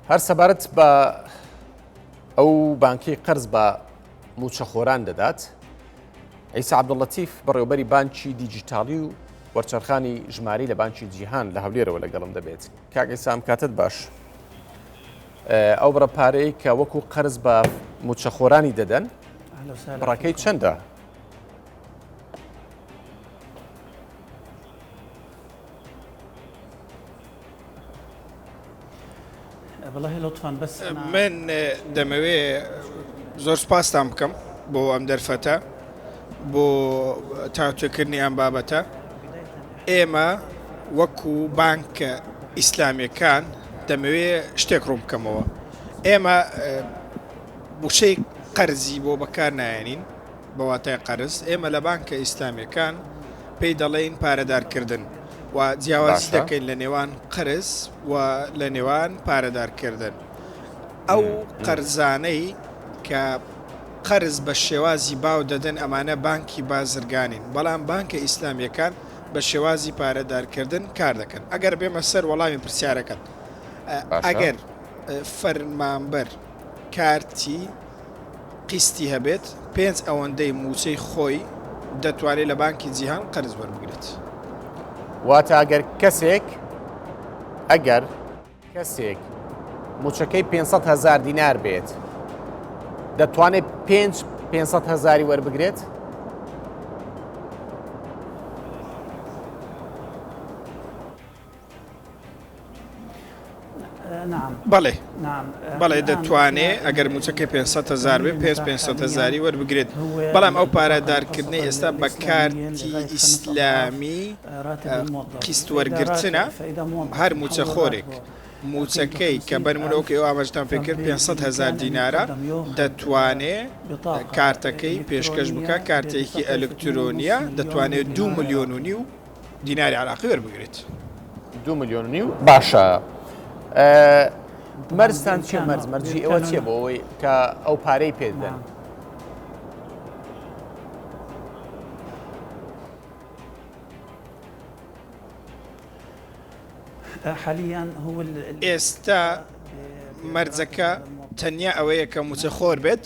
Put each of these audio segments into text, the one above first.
هەر سەبارەت بە ئەو بانکی قەرز بە موچەخۆران دەدات ئەیسا عبدڵەتیف بەڕێوبەری بانکی دیجیتالی و وەرچەرخانی ژماری لە بانکی جیهان لە هەولێرەوە لەگەڵم دەبێت کاگەی سام کاتت باش ئەو بڕە پارەی کە وەکو قەرز بە موچەخۆرانی دەدەن بڕەکەی چەندە من دەمەوێ زۆر سپاستان بکەم بۆ ئەم دەرفەتە بۆ تاوتوێکردنی ئەم بابەتە ئێمە وەکو بانکە ئیسلامیەکان دەمەوێ شتێک ڕوون بکەمەوە ئێمە بوشەی قەرزی بۆ بەکار نایێنین بە واتای قەرز ئێمە لە بانکە ئیسلامیەکان پێی دەڵێین پارەدارکردن و جیاوازی دەکەین لە نێوان قەرز و لە نێوان پارەدارکردن ئەو قەرزانەی کە قەرز بە شێوازی باو دەدەن ئەمانە بانکی بازرگانین بەڵام بانکە ئیسلامیەکان بە شێوازی پارەدارکردن کار دەکەن ئەگەر بێمە سەر وەڵامی پرسیارەکەت ئەگەر فەرمانبەر کارتی قیستی هەبێت پێنج ئەوەندەی مووچەی خۆی دەتوانێت لە بانکی جیهان قەرز وەربگرێت. واتە ئەگەر کەسێک ئەگەر کەسێک مووچەکەی پێنج سەد هەزار دینار بێت دەتوانێت پێنج پێنج سەد هەزاری وەربگرێت؟ بەڵێ بەڵێ دەتوانێ ئەگەر موچەکەی پێ هزار بێ پێ پێ هزاری وەربگرێت بەڵام ئەو پارادارکردنی ئێستا بە کارتی ئیسلامی قیست وەرگتنە هەر موچە خۆرێک. موچەکەی کە بەرمرۆکەی ئامەژتان پێکرد 500 هزار دینارە دەتوانێ کارتەکەی پێشکەش بکە کارتێکی ئەلکترۆنیە دەتوانێت دو میلیۆن و نیو دیناری عراقی وەربگرێت دو ملیۆن نیو باشە مەرزتان چێ مەرز مەرجی ئەوە چێ بۆ ئەوەی کە ئەو پارەی پێدەن ئێستا مەرجەکە تەنیا ئەوەیە کە موچەخۆر بێت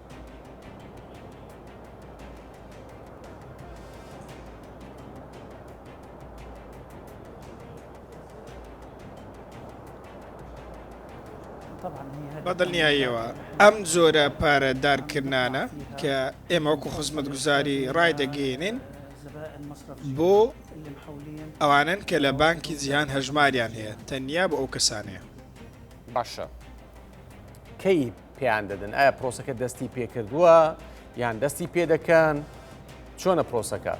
بەدڵنیاییەوە ئەم جۆرە پارە دارکردانە کە ئێمە وەکو خزمەت گوزاری ڕای دەگەێنین بۆ ئەوانن کە لە بانکی جیهان هەژماریان هەیە تەنیا بۆ ئەو کەسانەیە باشە کەی پێیان دەدەن ئایا پرۆسەکە دەستی پێکردووە یان دەستی پێ دەکەن چۆنە پرۆسەکە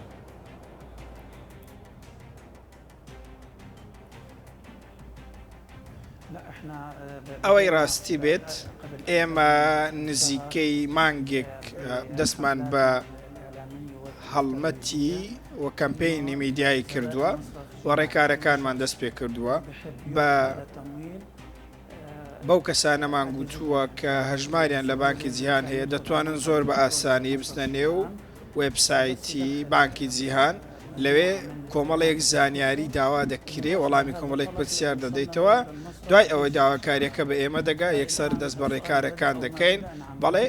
ئەوەی ڕاستی بێت ئێمە نزیکەی مانگێک دەستمان بە هەڵمەتی و کەمپینی میدیایی کردووە و ڕێکارەکانمان دەست پێ کردووە بە بەو کەسانەمان گوتووە کە هەژماریان لە بانکی جیهان هەیە دەتوانن زۆر بە ئاسانی بچنە نێو وێبسایتی بانکی جیهان لەوێ کۆمەڵێک زانیاری داوا دەکرێ وەڵامی کۆمەڵێک پرسیار دەدەیتەوە دوای ئەوەی داواکاریەکە بە ئێمە دەگا یەکسەر دەست بە ڕێکارەکان دەکەین بەڵێ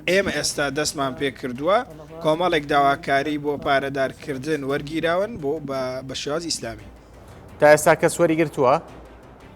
ئێمە ئێستا دەستمان پێ کردووە کۆمەڵێک داواکاری بۆ پارەدارکردن وەرگیراون بۆ بە شێوازی ئیسلامی تا ئێستا کەس وەری گرتووە؟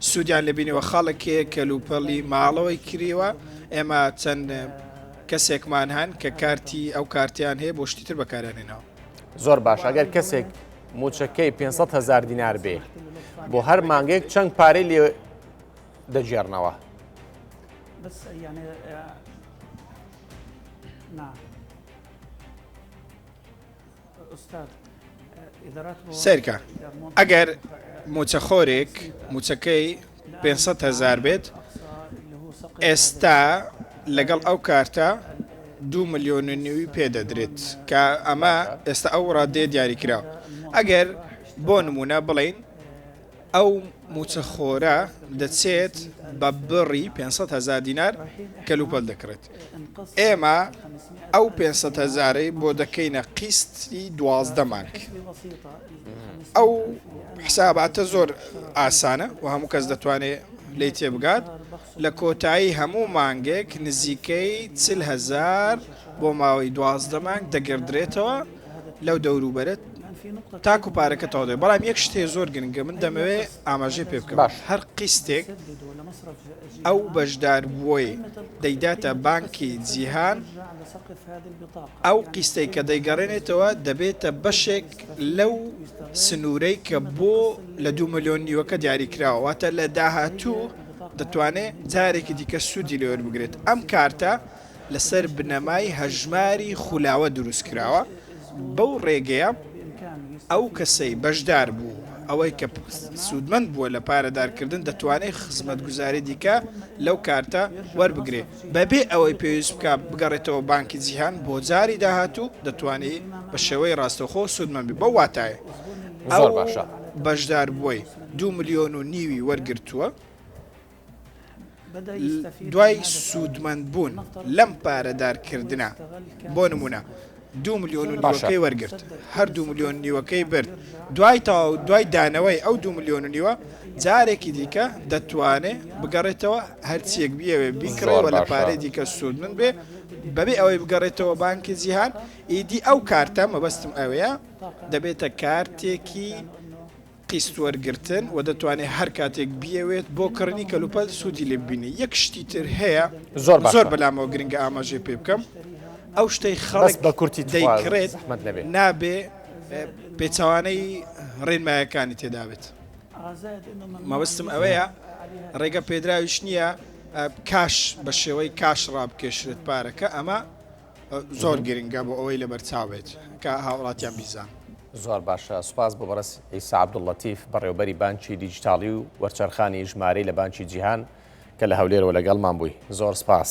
سودیان لێ بینیوە خەڵک کەلوپەلی ماڵەوەی کریوە ئێمە چەند کەسێکمان هەن کە کارتی ئەو کارتیان هەیە بۆ شتیتر بەکارێنەوە زۆر باش ئەگەر کەسێک موچەکەی 500 هزار دینار بێ بۆ هەر مانگێک چەند پارەی لێ دەگێڕنەوە سەیرکە ئەگەر موچەخۆرێک موچەکەی پێنج سەد هەزار بێت ئێستا لەگەڵ ئەو کارتە دوو ملیۆن و نیوی پێ دەدرێت کە ئەمە ئێستا ئەو ڕادێ دیاریکراوە ئەگەر بۆ نمونە بڵین ئەو مووچە خۆرە دەچێت بە بڕی پێنج سەد هەزار دینار کەلوپەل دەکڕێت، ئێمە ئەو پێنج سەد هەزارەی بۆ دەکەینە قیستی دوازدە مانگ. ئەو حساباتە زۆر ئاسانە و هەموو کەس دەتوانێت لێی تێبگات، لە کۆتایی هەموو مانگێک نزیکەی چل هەزار بۆ ماوەی دوازدە مانگ دەگەردرێتەوە، لەو دەوروبەرەت تاکو پارەکە تەواو دەبێت بەڵام یەک شت هەیە زۆر گرنگە من دەمەوێ ئاماژەی پێ بکەم باش. هەر قیستێک ئەو بەشداربووەی دەیداتە بانکی جیهان ئەو قیستەی کە دەیگەڕێنێتەوە دەبێتە بەشێک لەو سنوورەی کە بۆ لە دوو ملیۆن نیوەکە دیاری کراوە واتە لە داهاتوو دەتوانێت جارێکی دیکە سوودی لێوەربگرێت ئەم کارتە لەسەر بنەمای هەژماری خولاوە دروست کراوە، بەو ڕێگەیە ئەو کەسەی بەشدار بوو، ئەوەی کە سوودمەند بووە لە پارەدارکردن دەتوانێت خزمەتگوزاری دیکە لەو کارتە وەربگرێت بەبێ ئەوەی پێویست بکات بگەڕێتەوە بانکی جیهان بۆ جاری داهاتوو دەتوانێت بە شێوەی ڕاستەوخۆ سوودمەند بێت بەو واتایە ئەو بەشداربووەی دوو ملیۆن و نیوی وەرگرتووە. دوای سوودمەند بوون لەم پارەدارکردنە بۆ نمونە دو ملیۆن و نیوەکەی وەرگرت هەر دو ملیۆن نیوەکەی برد دوای تەواو دوای دانەوەی ئەو دو ملیۆن و نیوە جارێکی دیکە دەتوانێ بگەڕێتەوە هەرچیەک بیەوێ بیکڕەوە لە پارەی دیکە سوود من بێ بەبێ ئەوەی بگەڕێتەوە بانکی جیهان ئیدی ئەو کارتە مەبەستم ئەوەیە دەبێتە کارتێکی قیست وەرگرتن و دەتوانێت هەر کاتێک بیەوێت بۆ کڕنی کەلوپەل سوودی لێ ببینێت یەک شتی تر هەیە زۆر باشە. زۆر بەلامەوە گرنگە ئاماژەی پێ بکەم ئەو شتەی بەس خەڵک بە کورتی تخوا دەیکڕێت زەحمەت نەبێ نابێ اه، پێچەوانەی ڕێنمایەکانی تێدا بێت مەبەستم ئەوەیە ڕێگە پێدراویش نییە اه، کاش بە شێوەی کاش ڕابکێشرێت پارەکە ئەمە زۆر گرنگە بۆ ئەوەی لەبەرچاو بێت کە هاوڵاتیان بیزان. زۆر باشە سوپاس بۆ بەڕێز ئیسا عەبدوللەتیف بەڕێوەبەری بانکی دیجیتاڵی و وەرچەرخانی ژمارەی لە بانکی جیهان کە لە هەولێرەوە لەگەڵمان بووی زۆر سوپاس.